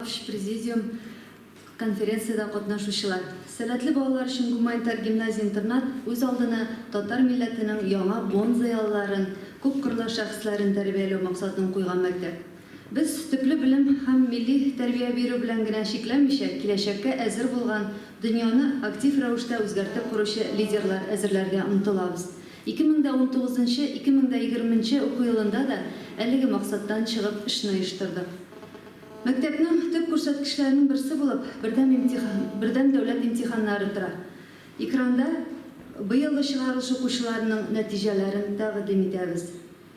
Баш президиум, конференциядә катнашучылар, сәләтле балалар өчен гуманитар гимназия-интернат үз алдына татар милләтенең яңа буын зыялыларын, күпкырлы шәхесләрен тәрбияләү максатын куйган мәктәп. Без төпле белем һәм милли тәрбия бирү белән генә чикләнмичә, киләчәккә әзер булган, дөньяны актив рәвештә үзгәртеп коручы лидерлар әзерләргә омтылабыз. Ике мең дә унтугызынчы, ике мең дә егерменче уку елында да әлеге максаттан чыгып эшне оештырдык. Мәктәпнең төп күрсәткечләренең берсе булып бердәм имтихан, бердәм дәүләт имтиханнары тора. Экранда быелгы чыгарылыш укучыларының нәтиҗәләрен тәкъдим итәбез.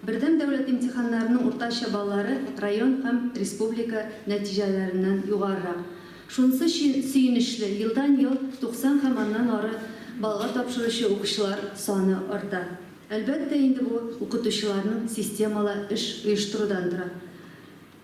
Бердәм дәүләт имтиханнарының уртача баллары район һәм республика нәтиҗәләреннән югарырак. Шунысы сөенечле, елдан-ел 90 һәм аннан ары баллга тапшыручы укучылар саны арта. Әлбәттә инде бу укытучыларның системалы эш оештырудан тора.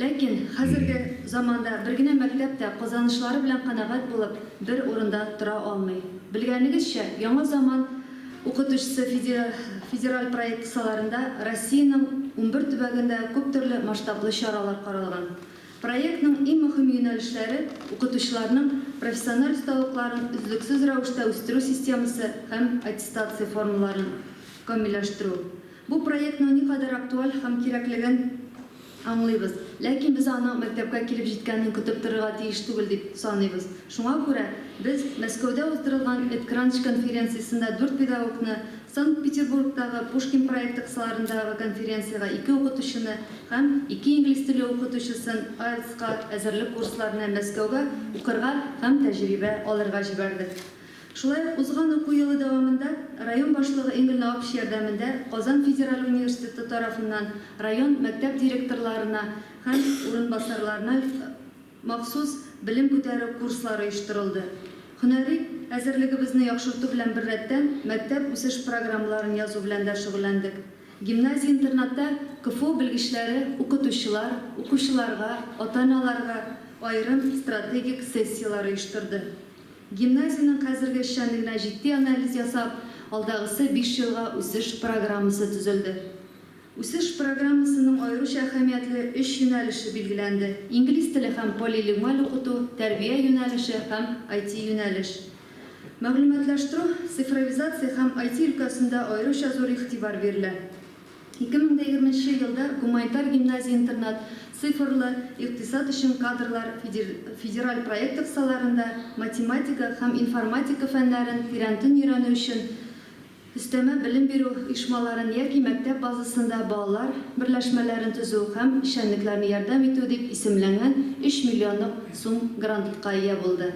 Ләкин хәзерге заманда бер генә мәктәп тә казанышлары белән канәгать булып бер урында тора алмый. Белгәнегезчә, Яңа заман укытучысы федераль проект кысаларында Россиянең унбер төбәгендә күптөрле масштаблы чаралар каралган. Проектның иң мөһим юнәлешләре, укытучыларның профессиональ осталыкларын өзлексез рәвештә үстерү системасы һәм аттестация формаларын камилләштерү. Бу проектның никадәр актуаль һәм кирәклеген аңлыйбыз. Ләкин без аның мәктәпкә килеп җиткәнен көтеп торырга тиеш түгел дип саныйбыз. Шуңа күрә без Мәскәүдә уздырылган EdCrunch конференциясендә дүрт педагогны, Санкт-Петербургтагы Пушкин проекты кысаларындагы конференциягә ике укытучыны һәм ике инглиз теле укытучысын IELTS-ка әзерлек курсларына Мәскәүгә укырга һәм тәҗрибә алырга җибәрдек. Шулай ук узган уку елы дәвамында район башлыгы Энгельна Апч ярдәмендә Казан федераль университеты тарафыннан район мәктәп директорларына һәм урынбасарларына махсус белем күтәрү курслары оештырылды. Һөнәри әзерлегебезне яхшырту белән беррәттән, мәктәп үсеш программаларын язу белән дә шөгыльләндек. Гимназия-интернатта КФУ белгечләре укытучылар, укучыларга, ата-аналарга аерым стратегик сессияләр оештырды. Гимназиянең хәзерге эшчәнлегенә җитди анализ ясап, алдагысы биш елга үсеш программасы төзелде. Үсеш программасының аеруча әһәмиятле өч юнәлеше билгеләнде, инглиз теле һәм полилигмаль укыту, тәрбия юнәлеше һәм IT-юнәлеш. Мәгълүматлаштыру, цифровизация һәм IT өлкәсендә аеруча зур игътибар бирелә. Ике мең дә егерменче елда гуманитар гимназия-интернат Цифрлы икътисад өчен кадрлар федераль проекты кысаларында математика һәм информатика фәннәрен тирәнтен өйрәнү өчен өстәмә белем бирү оешмаларын яки мәктәп базасында балалар берләшмәләрен төзү һәм эшчәнлекләрне ярдәм итү дип исемләнгән өч миллионлык сум грантка ия булды.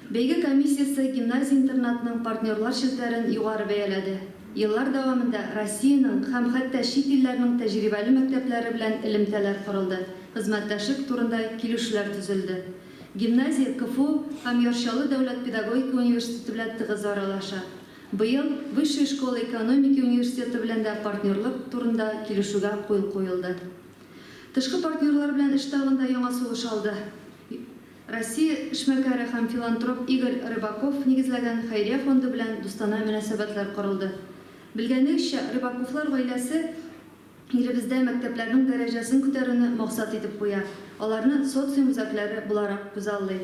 Бәйге комиссиясе гимназия-интернатның партнерлар челтәрен югары бәяләде. Еллар дәвамында Россиянең һәм хәтта чит илләрнең тәҗрибәле мәктәпләре белән элемтәләр корылды, хезмәттәшлек турында килүшүләр төзелде. Гимназия КФУ һәм Яр Чаллы дәүләт педагогика университеты белән тыгыз аралаша. Быел Высшая школа экономики университеты белән дә партнерлык турында килешүгә куел куелды. Тышкы партнерлар белән эш тагын да яңа сулыш алды. Россия эшмәкәре һәм филантроп Игорь Рыбаков нигезләгән хәйрия фонды белән дустана мөнәсәбәтләр корылды. Белгәнегезчә, Рыбаковлар гаиләсе илебездә мәктәпләрнең дәрәҗәсен күтәрүне максат итеп куя, аларны социум үзәкләре буларак күзаллый.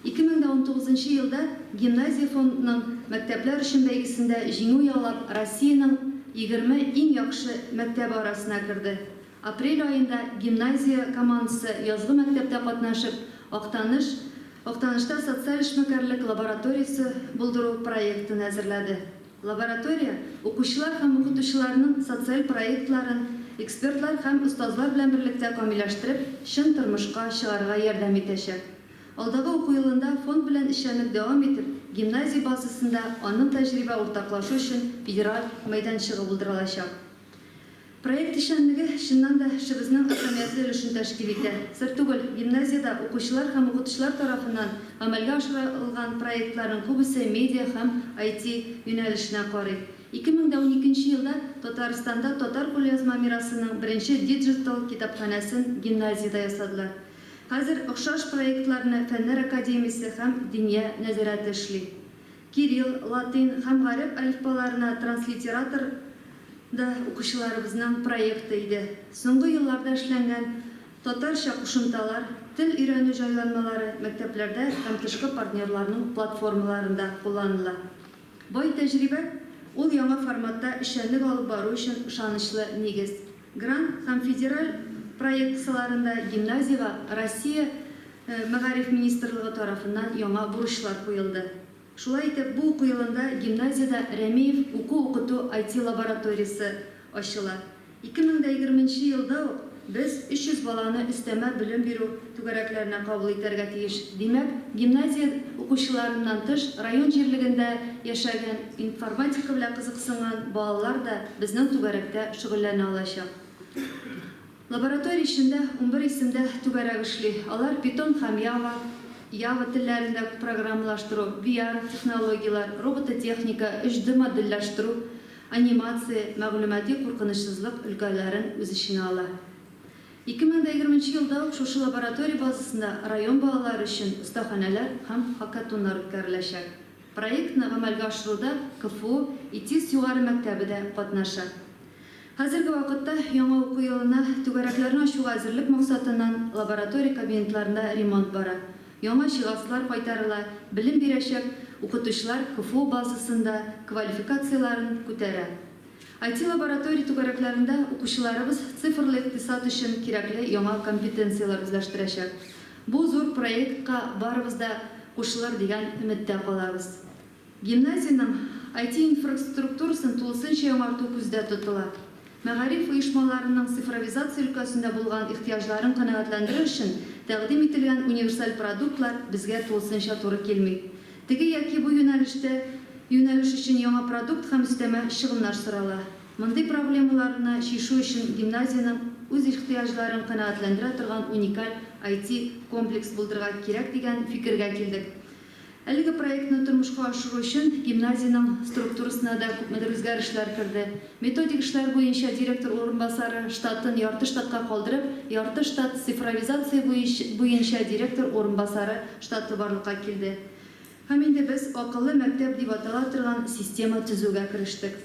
2019 елда Гимназия фондның Мәктәпләр өчен бәйгесендә җиңү яулап, Россиянең 20 иң яхшы мәктәбе арасына керде. Апрель аенда гимназия командасы язгы мәктәптә катнашып, Актаныш Актанышта социаль эшмәкәрлек лабораториясе булдыру проектын әзерләде. Лаборатория укучылар һәм укытучыларның социаль проектларын экспертлар һәм остазлар белән берлектә камилләштереп, чын тормышка чыгарырга ярдәм итәчәк. Алдагы уку елында фонд белән эшчәнлек дәвам итеп, гимназия базасында аның тәҗрибә уртаклашу өчен федераль мәйданчыгы булдырылачак. Проект эшчәнлеге, чыннан да, эшебезнең әһәмиятле өлешен тәшкил итә. Сер түгел, гимназиядә укучылар һәм укытучылар тарафыннан гамәлгә ашырылган проектларның күбесе медиа һәм IT юнәлешенә карый. 2012 нче елда Татарстанда татар кулъязма мирасының беренче диджитал китапханәсен гимназиядә ясадылар. Хәзер охшаш проектларны Фәннәр академиясе һәм Диния нәзарәте эшли. Кирилл, латин һәм гарәп әлифбаларына транслитератор да укучыларыбызның проекты иде. Соңгы елларда эшләнгән татарча кушымталар, тел өйрәнү җайланмалары мәктәпләрдә һәм тышкы партнерларның платформаларында кулланыла. Бай тәҗрибә, ул яңа форматта эшчәнлек алып бару өчен ышанычлы нигез. Грант һәм федераль проектцыларында гимназиягә Россия Мәгариф министрлыгы тарафыннан яңа бурычлар куелды. Шулай итеп, бу уку елында гимназиядә Рәмиев уку-укыту IT-лабораториясе ачыла. Ике мең дә егерменче елда ук без 300 баланы өстәмә белем бирү түгәрәкләренә кабул итәргә тиеш. Димәк, гимназия укучыларыннан тыш, район җирлегендә яшәгән, информатика белән кызыксынган балалар да безнең түгәрәктә шөгыльләнә алачак. Лаборатория эчендә унбер исемдә түгәрәк эшли. Алар Python һәм Java, Java, телләрендә программалаштыру, VR, технологияләр, робототехника, 3D модельләштерү, анимация, мәгълүмати куркынычсызлык өлкәләрен үз эченә ала. Ике мең дә егерме нче елда ук шушы лаборатория базасында район балалары өчен остаханәләр һәм хакатоннар үткәреләчәк. Проектны гамәлгә ашыруда КФУ ИТИС югары мәктәбе дә катнаша. Хәзерге вакытта яңа уку елына түгәрәкләрне ачуга әзерлек максатыннан лаборатория кабинетларында ремонт бара, яңа җиһазлар кайтарыла, белем бирәчәк укытучылар КФУ базасында квалификацияләрен күтәрә. IT-лаборатория түгәрәкләрендә укучыларыбыз цифрлы икътисад өчен кирәкле яңа компетенцияләр үзләштерәчәк. Бу зур проектка барыбыз да кушылыр дигән өметтә калабыз. Гимназиянең IT-инфраструктурасын тулысынча яңарту күздә тотыла. Мәгариф оешмаларының цифровизация өлкәсендә булган ихтыяҗларын канәгатьләндерер өчен тәкъдим ителгән универсаль продуктлар безгә тулысынча туры килми. Теге яки бу юнәлештә юнәлеш өчен яңа продукт һәм өстәмә чыгымнар сорала. Мондый проблемаларны чишү өчен гимназиянең үз ихтыяҗларын канәгатьләндерә торган уникаль IT-комплекс булдырырга кирәк дигән фикергә килдек. Әлеге проектны тормышка ашыру өчен гимназиянең структурасына да күпмедер үзгәрешләр керде. Методик эшләр буенча директор урынбасары, штатын ярты штатка калдырып, ярты штат цифровизация буенча директор урынбасары штаты барлыкка килде. Һәм инде без Акыллы мәктәп дип атала торган система төзүгә керештек.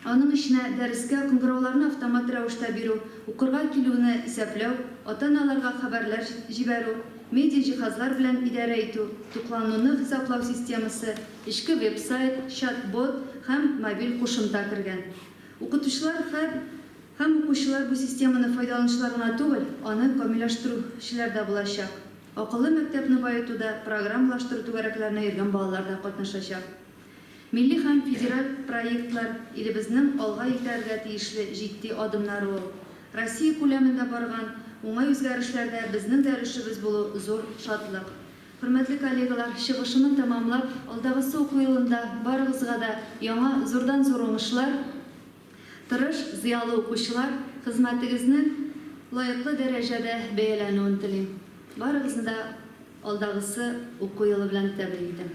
Аның эченә дәрескә кыңгырауларны автомат рәвештә бирү, укырга килүне исәпләү, ата-аналарга хәбәрләр җибәрү, медиаҗиһазлар белән идарә итү, туклануны хисаплау системасы, Эчке веб-сайт, чат-бот һәм мобиль кушымта кергән. Укытучылар һәм һәм укучылар бу системаны файдаланучылар гына түгел, аны камилләштерү челәр дә булачак. Акыллы мәктәпне баетуда программалаштыру түгәрәкләренә йөргән балалар да катнашачак. Милли һәм федераль проектлар, илебезнең алга итәргә тиешле җитди адымнары ул. Россия күләмендә барган уңай үзгәрешләрдә безнең дә өлешебез булу зур шатлык. Хөрмәтле коллегалар, чыгышымны тәмамлап, алдагысы уку елында барыгызга да яңа зурдан зур уңышлар, тырыш, зыялы укучылар, хезмәтегезнең лаеклы дәрәҗәдә бәяләнүен телим. Барыгызны да алдагысы уку елы белән тәбрик итәм.